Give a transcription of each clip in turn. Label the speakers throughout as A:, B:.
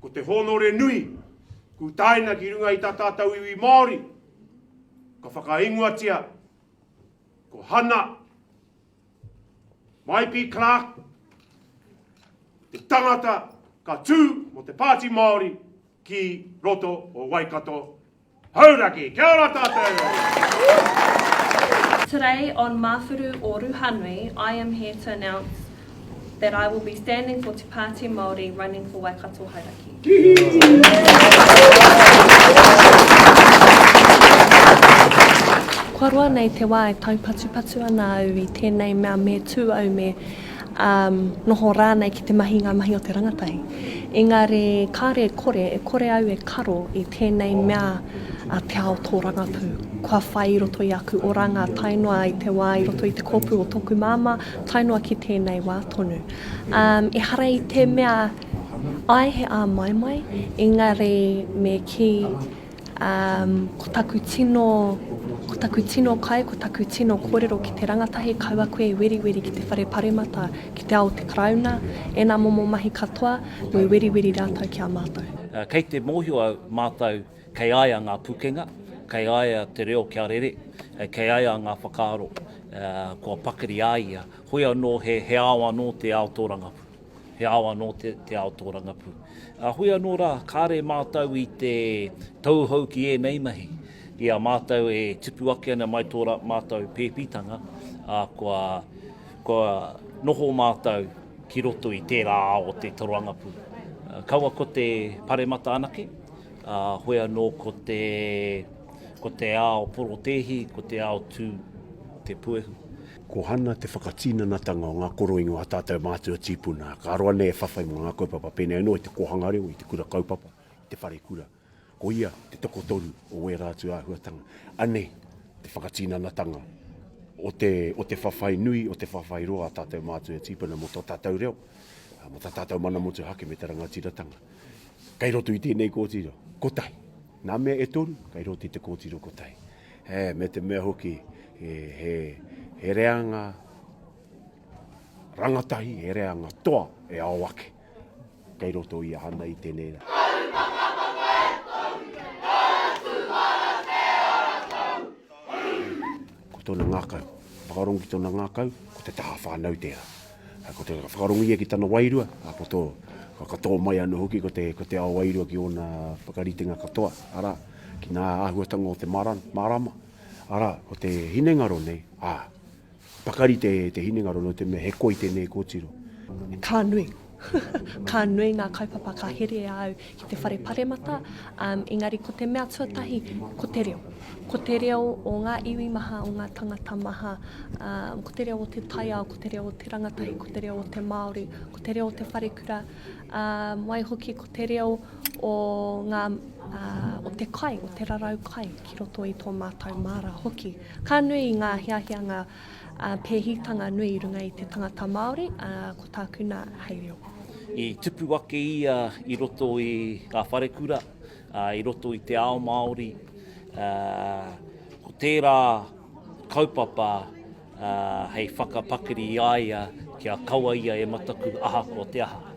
A: Ko te hōnore nui, kūtaina ki runga i tā tātou iwi Māori, ka whakaingoatia ko Hana Maipi Clark, te tangata ka tū mo te Pāti Māori ki roto o Waikato Hauraki! Kia ora tatou!
B: Today on Mawhuru o Ruhanui I am here to announce that I will be standing for Te Pāti Māori running for Waikato Hauraki. Kua roa nei te wā e taupatupatu ana au i tēnei mea me tū au me ā, noho rānei ki te mahi ngā mahi o te rangatahi. Engari kāre e kore, e kore au e karo i tēnei mea a te ao tōrangapū. Kua whai i roto i aku oranga tae noa i te wā i roto i te kōpū o tōku māmā, tae noa ki tēnei wā tonu. Ā, ehara i te mea, āe he āmaimai, engari me kī, Um, ko taku tino, ko taku tino kai, ko taku tino korero ki te rangatahi, kaua koe i weriweri ki te whare paremata, ki te ao o te Karauna, ena momo mahi katoa, me weriweri ratou ki a matou. Uh, kei te mohio
C: au matou kei aia nga pukenga, kei aia te reo kia rere, uh, kei aia nga whakaaro, uh, kua pakari a ia, hoi ano he, he ao ano te ao torangapū. He ao anō te ao tōrangapū. Ā, hui anō rā, kāre mātou i te tauhou ki ēnei mahi. I a mātou e tupu ake ana mai tō mātou pēpitanga, ā, kua noho mātou ki roto i tērā ao o te tōrangapū. Kaua ko te paremata anake, ā, hoi anō ko te, ko te ao porotēhi, ko te ao tū, te puehu. Ko Hana te
A: whakatinanatanga o ngā koroingo a tātou mātua tīpuna, ka roa nei e whawhai mō ngā kaupapa pēnei anō i te kōhanga reo, i te kura kaupapa, i te wharekura. Ko ia te tokotoru o wērā atu āhuatanga. Anei te whakatinanatanga o te, o te whawhai nui, o te whawhai roa a tātou mātua tīpuna mō tō tātou reo, mō tā tātou mana motuhake me te rangatiratanga. Kei roto i tēnei kōtiro, kotahi. Nā mea e toru, kei roto i te kōtiro kotahi. Me te mea hoki, he reanga rangatahi, he reanga toa e ao ake kei roto i ahana i tenei ra. Karu whakapono e tou, karu tūhara te ara tou, hū! Ko tona ngakau, whakarongo ki tona ngakau, ko te taha whanau tera. Ko te whakarongo ia ki tana wairua, ko to, ka katoa mai ano hoki ko te, ko te ao wairua ki ona whakaritenga katoa, ara, ki nga ahuatanga o te mara, marama, ara, ko te hinengaro nei, a, pakari te, te hinengaro no te mea he koi tenei kotiro. Ka nui,
B: ka nui nga kaupapa ka here a au ki te whare paremata, engari ko te mea tuatahi, ko te reo. Ko te reo o ngā iwi maha, o ngā tangata maha, ko te reo o te taiao, ko te reo o te rangatahi, ko te reo o te Māori, ko te reo o te wharekura, waihoki ko te reo o, ngā, o te kai, o te rarau kai ki roto i tō mātou māra hoki. Ka nui ngā hiahia, ngā Ā, pēhitanga nui i runga i te tangata Māori, ā, ko tāku nā, hei reo. I tupu
C: ake ia i roto i ngā wharekura, ā, i roto i te ao Māori, ā, ko tērā kaupapa, ā, hei whakapakari i a ia kia kaua ia e mataku ahakoa te aha.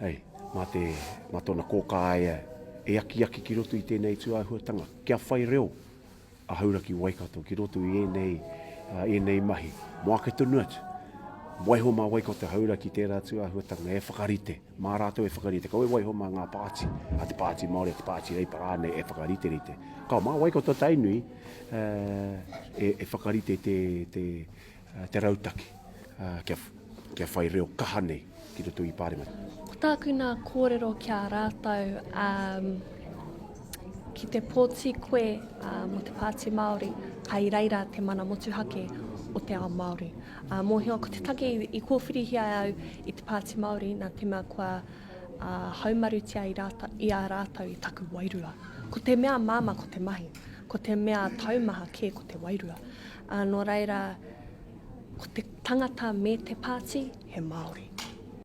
A: Hei, mā te, mā tōna kōkā a ia e akiaki ki roto i tēnei tūāhuatanga, kia whai reo a Hauraki Waikato ki roto i ēnei, ēnei mahi. Mō ake tonu atu, waiho mā Waikato Hauraki tērā tūāhuatanga e whakarite, mā rātou e whakarite. Kau e waiho mā ngā pāti, a te Pāti Māori, a te Pāti Reipa rānei e whakariterite. Ka, mā Waikato Tainui e, e whakarite te, te, Te rautaki kia, kia whai reo kaha nei ki roto i Pāremata. Ko tāku nā
B: kōrero ki a rātou, um, ki te pōti koe uh, mō te Pāti Māori, ka i reira te mana motuhake o te ao Māori. Uh, mōhio, ko te take i, i kōwhirihia au i te Pāti Māori, nā te mea kua uh, haumarutia i, rāta, i a rātou i taku wairua. Ko te mea māma ko te mahi, ko te mea taumaha kē ko te wairua. Ā, nō reira, ko te tangata me te pāti, he Māori.